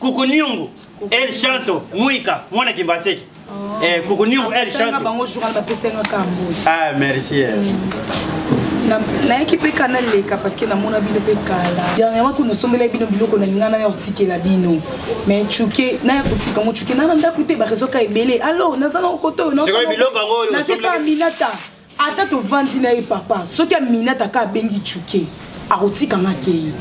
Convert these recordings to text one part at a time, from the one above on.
Kukunyungu El Chanto Muika mwana Kimbanseke. Oh. Eh Kukunyungu El Chanto. Bango journal ba pesa nga kambo. Ah merci. Eh. Mm. nayaki mpe kana leka parceke namona bino mpe kala dernièrement kuna osombela bino biloko na linga naya kotikela bino mais cuke naya kotika yango cuke nana ndako te barezoka ebele alors naza na okoto oyo naobiloko yango nasepa aminata ata tovandi na ye papa soki aminata ka abengi cuke akotika nga kei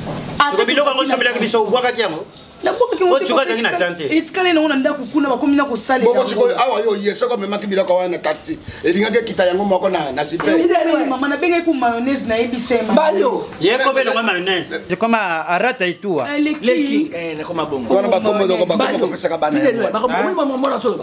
biloko yango sombelaki biso obwakaki yango otikazangi na tan te etikali nango na ndako kuna bakomi na kosalela sikoyo awa yo oye soki omemaki biloko wana na taxi elingaki ekita yango moko na sipemama nabengaki ku mayonnaise nayebisa yekobe elongo mayonnaise ekoma arata etuawana bakombo bakopesaka bana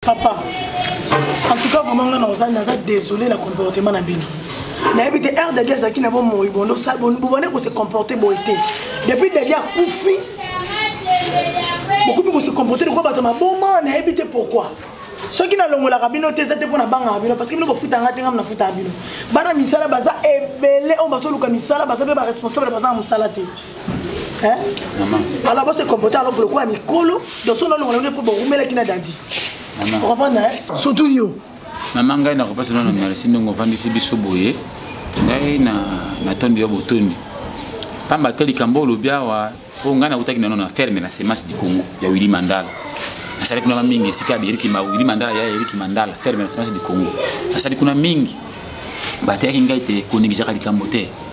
papa en tout cas vraiment nga naza naza désolé na comportement na bino nayebi te r dadi azalaki na bomoi bondo bobande kose comporte boye te depuis dadi akufi bokomi kose comporte lokola bato maboma nayebi te pourquoi soki nalongolaka bino te eza te mpo nabangaka bino parce que bino bofutanga te ngai nafutaka bino bana misala baza ebele oyo bazoluka misala baza mpe baresponsable baza na mosala te Hein? Maman. Alors vous se comporter alors pour le coup à Nicolo, dans son nom on est pour vous mettre qui n'a dadi. Maman. Vous comprenez hein? Surtout yo. Maman ngai na kopesa na merci ndongo vandisi biso boye. Ngai na na tondi yo botondi. Pamba te likambo olobi awa mpo ngai nakutaki nano na ferme na semence du congo ya willi mandala nasali kuna mingi esika ya eriki willi mandala ya eriki mandala ferme na semence du congo nasali kuna mingi bateyaki ngai te konegizaka likambo te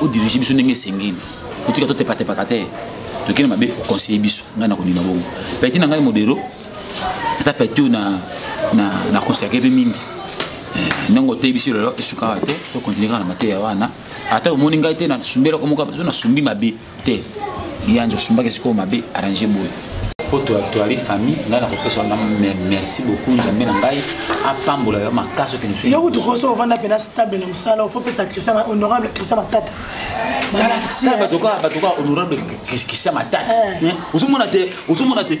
odirige biso ndenge esengeli otika totepatepaka te tokende mabe oconseille biso ngai nakondima bongo peti na ngai modero eza peti oyo na consacre mpe mingi eh, ndenge oteyi biso lelo esukaka te tokontinue kaka na mateya wana ata omoni ngai te nasumbelaka moko zo nasumbi mabe te yanje osumbaki sikoyo mabe arrange boye mpo toali famille ngai nakopesa wana merci beaucoup nzambe na ngai apambola yo makasi yo kutu koso ovanda mpena stable na mosala ofo pesa christian honorable christian matata batoka honorable christian matata eh. eh, ozomona te ozomona te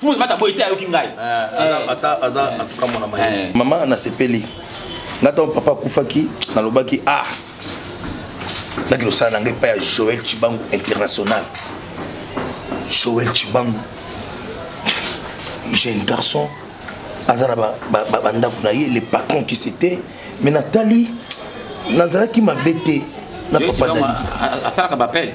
fumu mata boye te ayoki ngai mama nasepeli nga ntango papa akufaki nalobaki ah naki losala na ngai epai ya joel cibangu international joel cibangu jeune garçon aza na bandako na ye le patron qui c'était mais natali nazalaki mabe te na papa asalaka bapele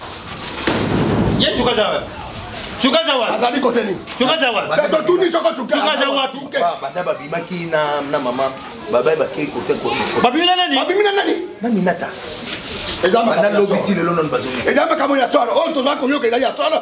ye cuka za wapi cuka za wapi azali kote nini cuka za wapi totuni soko cuka za wapi banda babimaki na mama babai bakei kote babimi na nani babimi na nani na minata eza makambo ya solo oyo tozali koyoka ezali ya solo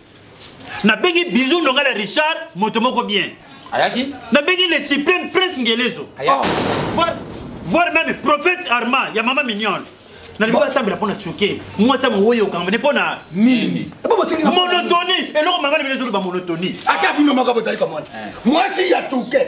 nabengi bizu ndonga na richard moto moko bien ayaki nabengi le supreme prince ngelezo oh. voir, voir même prophète arma ya mama mignone nalingi basambela mpo na tioke mwasi ya mowoyi okangama ne mpo na nini monotoni eloko mama na bino ezoloba monotoni ata bino moko botali komona eh. mwasi ya tuke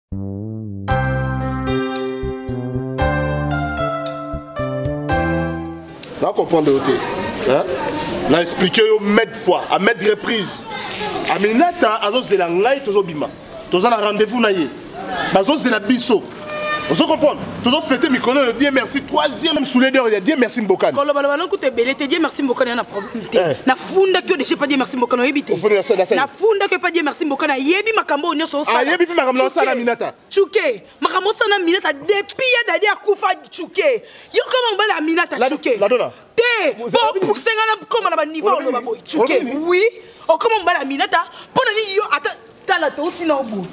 na comprendre yo te na explike yo made fois a made reprise aminata azozela ngai tozobima toza na rendez-vous na ye bazozela biso ozo comprendre tozo fete mikolo oyo die merci troisième souledeur ya die merci mbokani kolobaloba lokuta ebele te die merci mbokani ana problème te eh. nafundaki yo deja pa die merci mbokani oyebi te nafundaki yo pa die merci mbokani ayebi makambo oyo nyonso osalaayebi mpe makambo na osala minata cuke makambo osala minata depuis ya dadi akufa cuke yo koma mobali ya minata cuke te po pousse nga na koma na baniveau oloba boye cuke oui okoma mobali ya minata mpo na nini yo ata tala touti na obo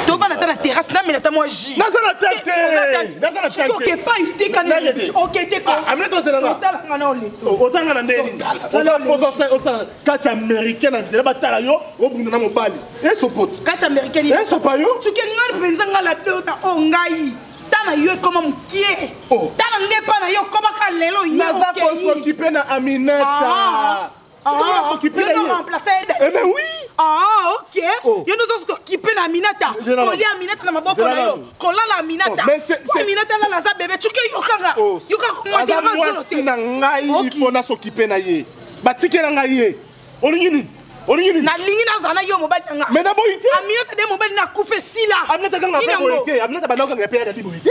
tobana ata na terrasse namela ata mwa jus naza na tete epai te kanokete kotalanga na ole otanga na ndeni osala kati américain na nzela batala yo obunda na mobali esopoti kati américain esopa yo soki ngai mpenza ngai la dota o ngai ta na yo ekoma mokie ta na ngai epai na yo okoma ka lelo naza kosokipe na aminata Ah, ah, eh ben oui ah ok oh. yo nozosi kokipe na minata kolia minata na maboko na yo kolala minata oh, minata alala aza bebe cuke yokanga oh. yokanga mwasi na ngai mpo nasokipe na ye batikela ngai ye olingi nini olingi nini nalingi nazala na yo mobali nanga mais naboyi te aminata de mobali nakufa esila aminata kanga pe boye te aminata bandakanga ya pe ya dadi boye te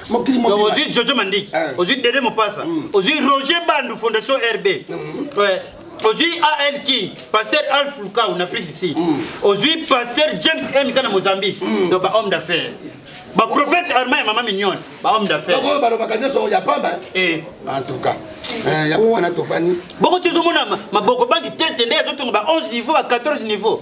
mokili mobimba. Donc ozwi Jojo Mandiki, Eh. ozwi Dede Mopasa, ozwi Roger Bandu Fondation RB. Ouais. ozwi al king pasteur alf lukau na afrique du sud ozwi pasteur james mk na mozambique donc bahomme d'affaires baprophète arma ya mama mignone bahomme d'affaires Oyo balobaka nyonso ya pamba. Eh. En tout cas, eh, yango wana topani. bongo tozomona ma- maboko bangi tete nde azotonga ba 11 niveau ba 14 niveau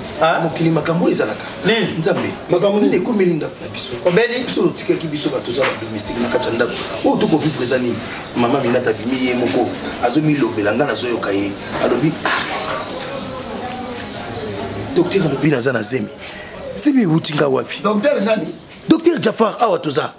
Ah. mokili makambo oyo ezalaka hmm. nzambe makambo nini ekomeli ndako na biso obeli biso otikaki biso bato oza badomestique na kati ya ndako oyo tokovivre eza nini mama minata abimi ye moko azomilobela ngai nazoyoka ye alobi ah. docteur alobi naza na zemi zemi euti ngai wapi docteur jafar awa toza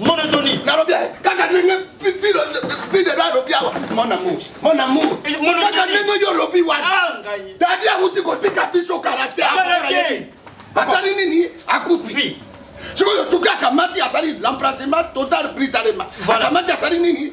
monotoni nalobi kaka ndenge pilo speed edo alobi awa mon amour mon amour eh, kaka ndenge yo olobi wana ah, dadi awuti kotika biso karakter asali nini akufi sikoyo tuki akamati asali l'emplacement total britalema akamati asali nini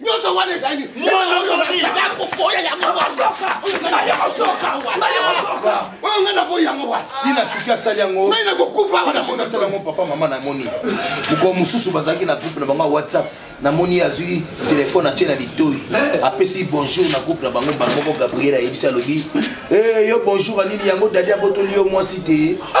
nyonso wana ezali kokoya yango oyo ngai naboyi yango wana tina cuki asali yango ngai nakokufa asali yango papa mama namoni mokolo mosusu bazalaki na groupe na bango ya whatsapp namoni ye azwi telefone atye na litoi eh. apesi bonjour na groupe na bango bango moko gabriel ayebisi alobi eh, yo bonjour anini yango dadi abotoli yo mwasi te ah!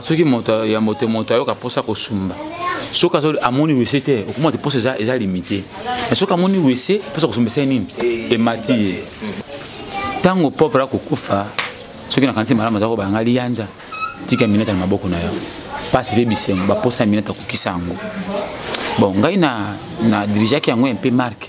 soki moto ya moto moto ayoka mposa kosumba soki azo amoni wese te okomona te mposa eza, eza limite me soki amoni wese mposa kosumba esai nini eh, emati ye ntango pauvre akokufa soki nakanisi malamu aza kobalanga liyanja tika minete na maboko na yo mpasi mpe bisengo baposa minete akokisa yango bon ngai na, na dirigeaki yango mpe marke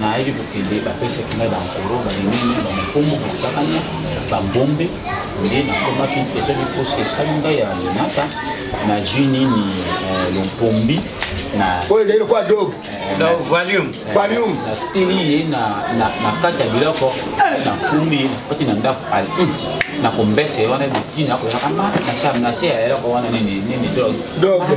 nayaki kokende bapesaki ngai bankolo balinini bamokomo basakani bambombe nde nakomaki mpe soki mposi esali ngai ya linata nazwi nini eh, lompombi oyo ezali lokola dobe nateli ye na kati ya biloko nakumi ye nakoti na ndako hmm, nakombese wana bitina koyaka ma nase ya eloko wana nini nini dobe